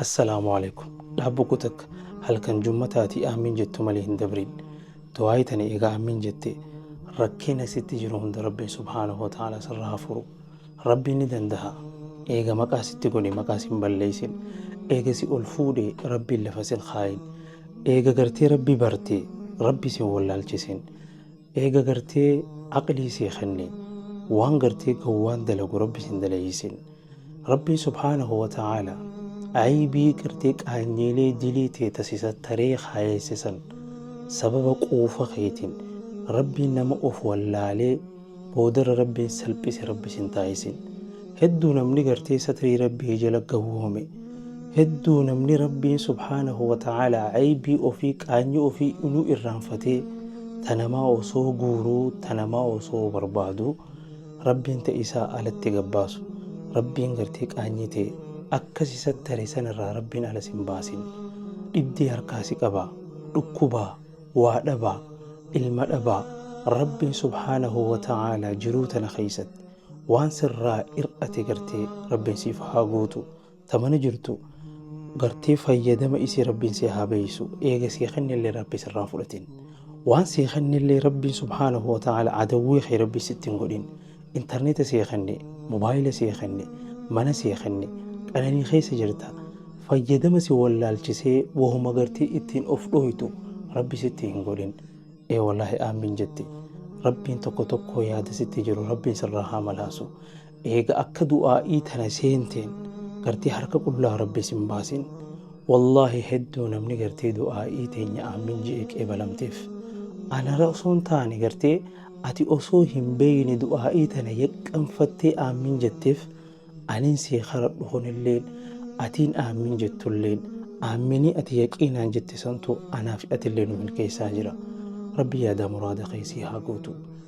Assalaamu Aleeykum. Dhaabbo koo takka halkan jummataa ati aamiin jettu malee hin dabriin. Du'aayi tana eega aamiin jette rakkina sitti jiru hunda Rabbiin subhaanahu wa ta'aalaa sirraa haa furu. Rabbiin ni dandaha. Eega maqaa sitti godhe maqaa sin balleeysin. Eega si ol fuudhe Rabbiin lafa sin kaayin. Eega gartee Rabbi barte Rabbi sin wallaalchisin. Eega gartee aqlii sii kenne waan gartee gowwaan dalagu Rabbi sin daleeysin. Rabbii subhaanahu wa ta'aalaa aybii gartee qaanyeelee dilii tee ta si sattaree kaayeesse san sababa quufa keetiin Rabbiin nama of wallaalee boodarra Rabbiin salphise Rabbi sin taasisin. Hedduu namni gartee satrii Rabbii jala gawwoome hedduu namni Rabbiin subhaanahu wa ta'aalaa aybii ofii qaanyii ofii inuu irraanfatee ta namaa osoo guuruu ta namaa osoo barbaaduu rabbiin ta'e isaa alatti gabbaasu rabbiin gartee qaanyii ta'e akkas isa tare sanirraa rabbiin alas hin baasin dhibdee harkaa si qabaa dhukkubaa waa dhabaa ilma dhabaa rabbiin subhaanahu wa ta'aalaa jiruu tana keessatti waan sirraa ir'ate gartee rabbiin siif haa guutu ta mana jirtu gartee fayyadama isii rabbiin si haa beeysu eega sii kennillee rabbi sirraa fudhatin waan sii kennillee rabbiin subhaanahu wa ta'ala adawwii kee rabbi sitti hin godhin intarneeta sii kenne mobaayila sii kenne mana sii kenne qananii keessa jirta fayyadama si wallaalchisee wahuma gartee ittiin of dhooytu rabbi sitti hin godhin ee wallaahi aamiin jette rabbiin tokko tokko yaada sitti jiru rabbiin sirraa haa malaasu Eega akka du'aa'ii tana seenteen gartee harka qullaa Rabbi isin baasin. Wallaahi hedduu namni gartee du'aa'ii teenya aamiin je'ee qeebalamteef. Anara osoo hin taane gartee ati osoo hin beeyne du'aa'ii tana yaqqanfattee aamiin jetteef aniin sii karadhu kunilleen atiin aamiin jettulleen aaminii ati yaqiinaan jette santu anaaf atillee nu milkeessaa jira. Rabbi yaadaa muraada kee sii haa guutu.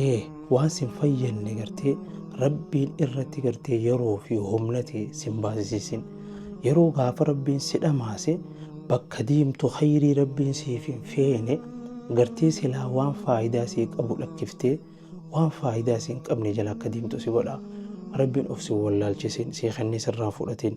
ee waan sin fayyadne gartee rabbiin irratti gartee yeroo fi humna ta'e sin baasisisin yeroo gaafa rabbiin si dhamaase bakka deemtu khayrii rabbiin siif hin feene gartee silaa waan faayidaa sii qabu lakkiftee waan faayidaa siin qabne jala akka deemtu si godha rabbiin of si wallaalchisin si kennee sirraa fudhatin